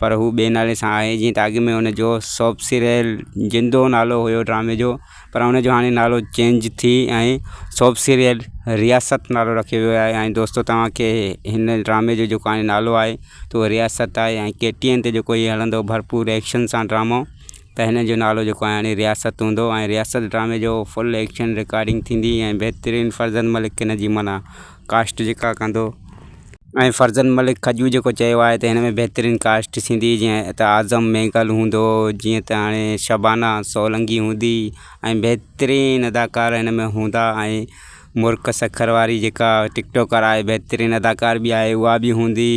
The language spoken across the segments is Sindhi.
پر هو ٻئي نالي سان آهي جيئن ته اڳ ۾ هن جو سوپسيريل جندو نالو هيو ڊرامي جو پر هن جو هاڻي نالو چينج ٿي ۽ سوپسيريل رياست نالو رکيو ويو آهي ۽ دوستو توهان کي هن ڊرامي جو جيڪو هاڻي نالو آهي ته اهو رياست آهي ۽ ڪي ٽي اين تي جيڪو هي هلندو ڀرپور ايڪشن سان ڊرامو ته هن جو نالو جيڪو آهي هاڻي رياست هوندو ۽ رياست ڊرامي جو فل ايڪشن رڪارڊنگ ٿيندي ۽ بهترين فرزند ملڪ هن جي معنيٰ ڪاسٽ جيڪا ڪندو ۽ فرزند ملڪ کجو جيڪو چيو آهي ته هن ۾ بهترين ڪاسٽ ٿيندي جيئن ته اعظم مينگل هوندو جيئن ته هاڻي شبانا سولنگي هوندي ۽ بهترين اداڪار هن ۾ هوندا ۽ مرڪ سکر واري جيڪا ٽڪٽوڪر آهي بهترين اداڪار به آهي اها به هوندي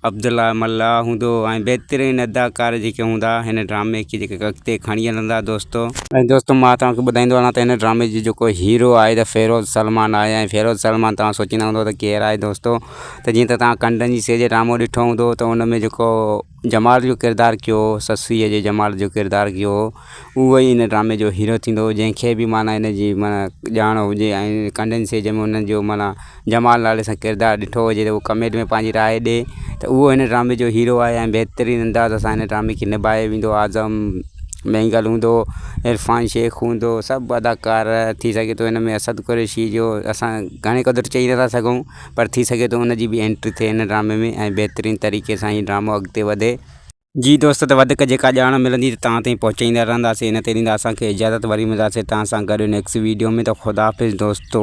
عبدالله ملاح هوندو ۽ بهترين اداڪار جيڪي هوندا هن ڊرامي کي جيڪي اڳتي کڻي هلندا دوستو. ۽ دوستو مان توهان کي ٻڌائيندو هلان ته هن ڊرامي جو جيڪو هيرو آهي ته فيروز سلمان آهي ۽ فيروز سلمان توهان سوچيندا هوندو ته ڪير آهي دوستو ته جيئن ته توهان ڪنڊن جي سيء جو ڊرامو ڏٺو هوندو ته ان ۾ جيڪو جمال جو ڪردار ڪيو هو سسئي جي جمال جو ڪردار ڪيو هو اهو ئي ان ڊرامي جو هيرو ٿيندو جنهن کي به معنيٰ ان جي معنيٰ ڄاڻ هجي ۽ ڪنڊينسي جنهن ۾ ان جو معنيٰ جمال نالي سان ڪردار ڏٺو هجي ته ڪمينٽ ۾ پنهنجي راء ڏي ته اهو هن ڊرامي جو هيرو آهي ۽ بهترين انداز سان هن ڊرامي کي نباهي ويندو اعظم مينگل هوندو عرفان شيخ هوندو سڀ اداڪار ٿي سگهي ٿو ان ۾ اسد قريشي جو اسان گهڻي قدر چئي نٿا سگهون پر ٿي سگهي ٿو ان جي بي انٽري ٿئي هن ڊرامي ۾ ۽ بهترين طريقي سان هي ڊرامو اڳتي وڌي جي دوست ته وڌيڪ جيڪا ڄاڻ ملندي ته توهان تائين پهچائيندا رهنداسين ان تي ڏيندا اسان کي اجازت وري ملنداسين توهان سان گڏ نيڪسٽ ويڊيو ۾ ته خدا حافظ دوستو.